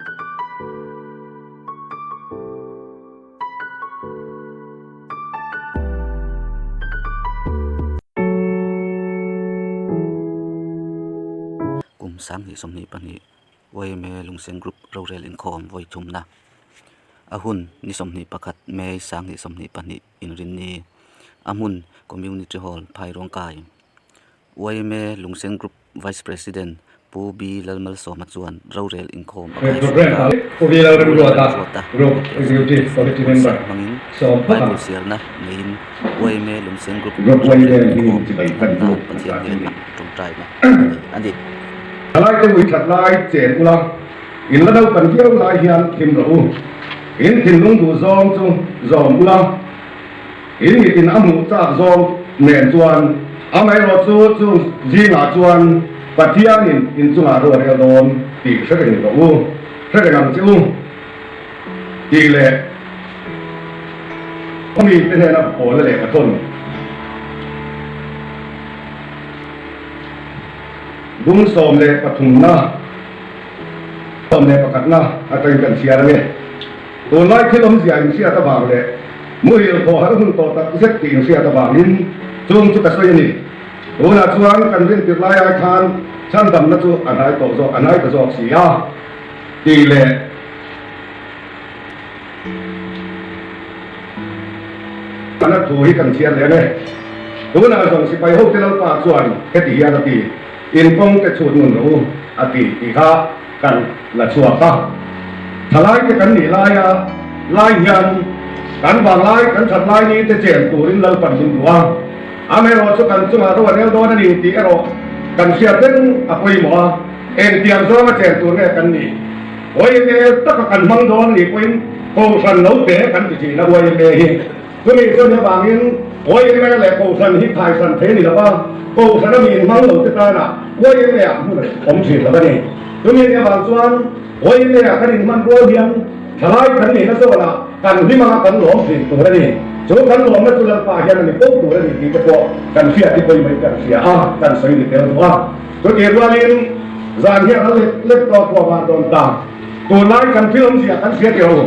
Kum sanghnih sawmhnih pahnih YMA Lungsen Group Rorel Inkhawm vawithumna a hun ni sawmhnih pakhat May sanghnih sawmhnih pahnih. Inrinni a hmun Community Hall, Phai Rawngkai. Yma Lungseng Group Vice President Pu Bi Lalmalsawma chuan rorel inkhawm a kai sual a. Pu Lalmalsawma ruat a Executive Committee Member hmangin Bible sialna neiin yma Lungseng Group rorel inkhawm thlapna Pathian hian a ṭawngṭai hlawm a ni. Alaite Muithlatlai chen ula. In la do kan viau lai hian thim rawh u. In thinlung duhzawm chu zawm u la. In mitin a hmuh chak zawng nen chuan amaherawh chu chu zingah chuan Pathianin inchungah ruahrial dawn tih hrehreng rawh u, hrehreng ang che u tih leh khawmite hnena pawla leh pathum bum sawm leh pathumna, Awm leh pakhatna atangin kan chhiar ang e. Tunlai thil awmzia inhriat avang leh muhil khawh har hun tawh tak zet tih inhriat avangin chung chu ka sawi a ni. Tunah chuan kan rintir lai ai khan chhandamna chu a hnai tawh zawk, a hnai ta zawk si a ti leh. An at thu hi kan chhiar leh ang e. Tunah zawng sipai hote Lalpa chuan heti hian a ti. In kawng te chhut ngun rawh u a ti tih kha kan la chhuak a. Thalaite kan nih laia Lai hian kan vanglai, kan thatlai ni te chen turin Lalpan hlim duh a, amerawh chu kan chungah ru a rel dawn a ni tih erawh kan hriat reng a pawimawh a, engtiang zawng a chen tur nge kan nih? YMA taka kan hmang dawn a nih pawhin, Kohhran lo pe kan ti thin a YMA hi. Chumi chuan hevangin Puai Eng Mea leh Kohhran hi thaisan thei a ni lo a, Kohhran a miin hmang lote tana Puai Eng Mea hmu reng awm thin lo a ni. Chumi ni avang chuan Puai Eng Mea kan inhman rual hian thalai kan nihna zawnah kan hlimanga kan lawm thin tur a ni. Chu kan lawmna chu Lalpa hian a ni ko tur a ni tih te pawh kan hriat i pawi mai kan hria a, kan sawi ni tel duh a. Chutih rualin zan hian a let let tawh a kuah vang dawn ta. Tunlai kan thil awmzia kan hria teh a ni.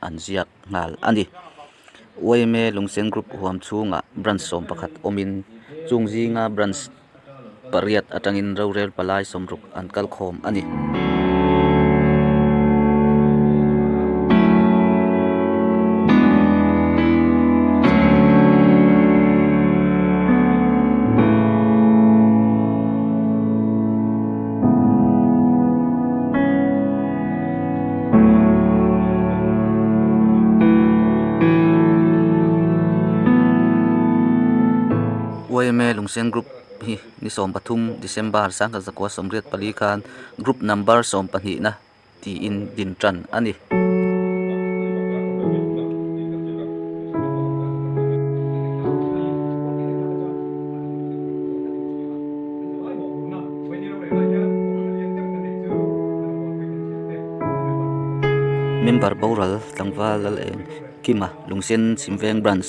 an ziak nghal a ni uaime lungsen group huam chhungah branch sawm pakhat awmin chung zinga branch pariat atangin rorel palai sawm ruk an kal khawm a ni. yma lungsen group hi ni sawm pathum December sangha zakua sawmriat pali khan group number sawm pahnihna. tiin din tan a ni. Member Boral tlangval Laleng Kima Lungsen Chhimveng Branch.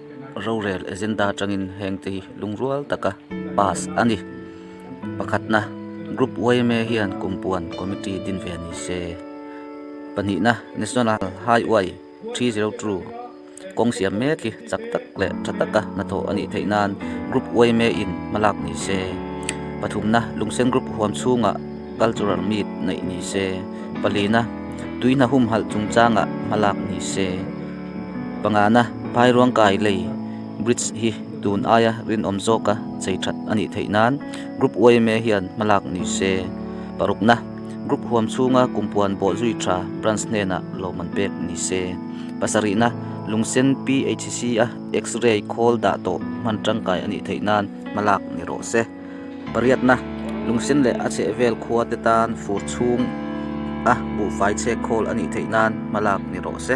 rorel agenda atangin hengte hi lungrual taka pass a ni pakhatna group yma hian kumpuan committee din ve a ni se pahnihna national haiuai three zero two kawng siam mek hi chak tak leh tha taka hnathawh a nih theih nan group yma in hma lak ni se pathumna lungsen group huam chhungah cultural meet neih ni se palina tuihna humhalh chungchangah hma lak ni se. Pangana, Phai Ruang Kai Lei, bridge, hi tun aia rinawm zawka chei that a nih theih nan group uaime hian hmalak ni se. Parukna, Group huam chhunga kum puan bawh zui tha branch hnenah lohman pek ni se. Pasarihna, Lungsen PHC a X-ray khawl dah tawh hman tangkai a nih theih nan hmalak ni rawh se. Pariatna, Lungsen leh a chhehvel khua te tan fur chhung a buhfai chhek khawl a nih theih nan hmalak ni rawh se.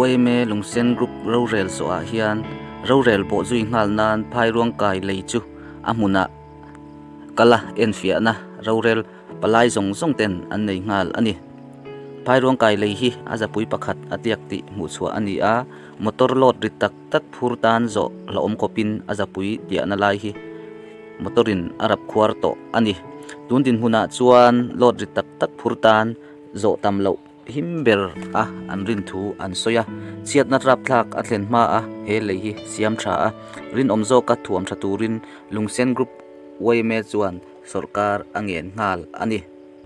Uaime Lungsen Group rorel zawhah hian rorel bawh zui nghal nan phairuang kai lei chu a hmunah kala enfiahna rorel palai zawng zawng ten an nei nghal a ni. Phairuang kai lei hi a zapui pakhat a tiak tih hmuh chhuah a ni a, motor load ri tak Tat phur tan zawh la awm khawpin a zapui piahna lai hi motorin a rap khuar tawh a ni. Tun dinhmunah chuan load ri tak tak phur tan zawh tam loh him ber a an rin thu an sawi a, chhiatna rapthlak a thlen hma a he lei hi siam tha a. Rinawm zawka thuam tha turin Lungsen Group YMA chuan sawrkar a ngen nghal a ni.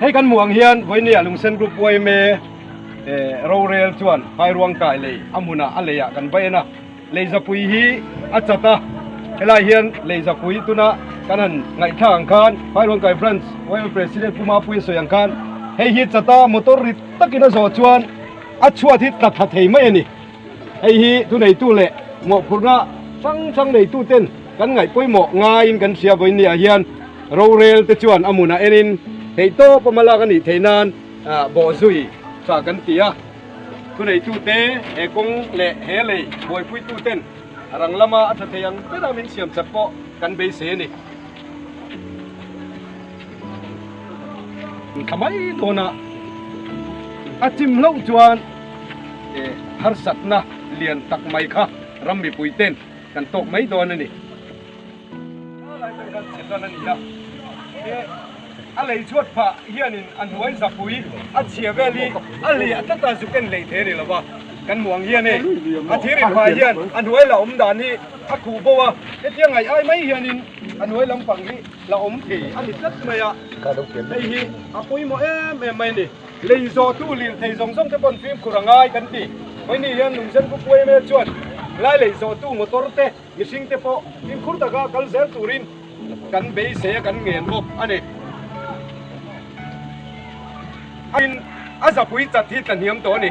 Hei kan hmuh ang hian vawinia lungsen group uaime rorel chuan vai ruangkai lei a hmunah a leiah kan va en a lei zapui hi a chat a helai hian lei zapui tuna kan han ngaihthlak ang khan vai ruangkai branch uaime president pu Mapuiin sawi ang khan hei hi chata motor ri takin a zawh chuan a chhuat hi tla tha thei mai a ni. Hei hi thu neitu leh mawhphurhna hrang hrang neitu ten kan ngaih pawimawh ngaiin kan hria vawiin ni ah hian rorel te chuan a munah enin theihtawp awm a lak a nih theih nan bawh zui tha kan ti a. Thu neitu te he kawng leh he lei buaipuitu ten a rang lama a tha thei ang ber a min siam chap pawh kan beisei a ni. An thla mai dawn a, a chim hlauh chuan harsatna lian tak mai kha ram mipui ten kan tawk mai dawn a ni. Thla lai ten khan chhe chuan a ni a, a lei chhuat phah hianin a hnuai zapui a chhia vel hi a leh a tlat a zuk en leh theih a ni lo va, kan muang hian hei a thir inphah ah hian a hnuai la awm dan hi a khuh bo a, hetiang ngaih ai mai hianin a hnuai lampang hi. la awm thei a ni tlat mai a, hei hi a pawimawh em em mai a ni. Lei zawtu lirthei zawng zawng te pawh an fimkhur a ngai kan tih. Hei ni hian Lungzenbu Puaimea chuan Lai lei zawtu motor te, mihring te pawh fimkhur taka kal zel turin kan beisei a kan ngen bawk a ni. Ahin a zapui chat hi tlahniam tawh a ni.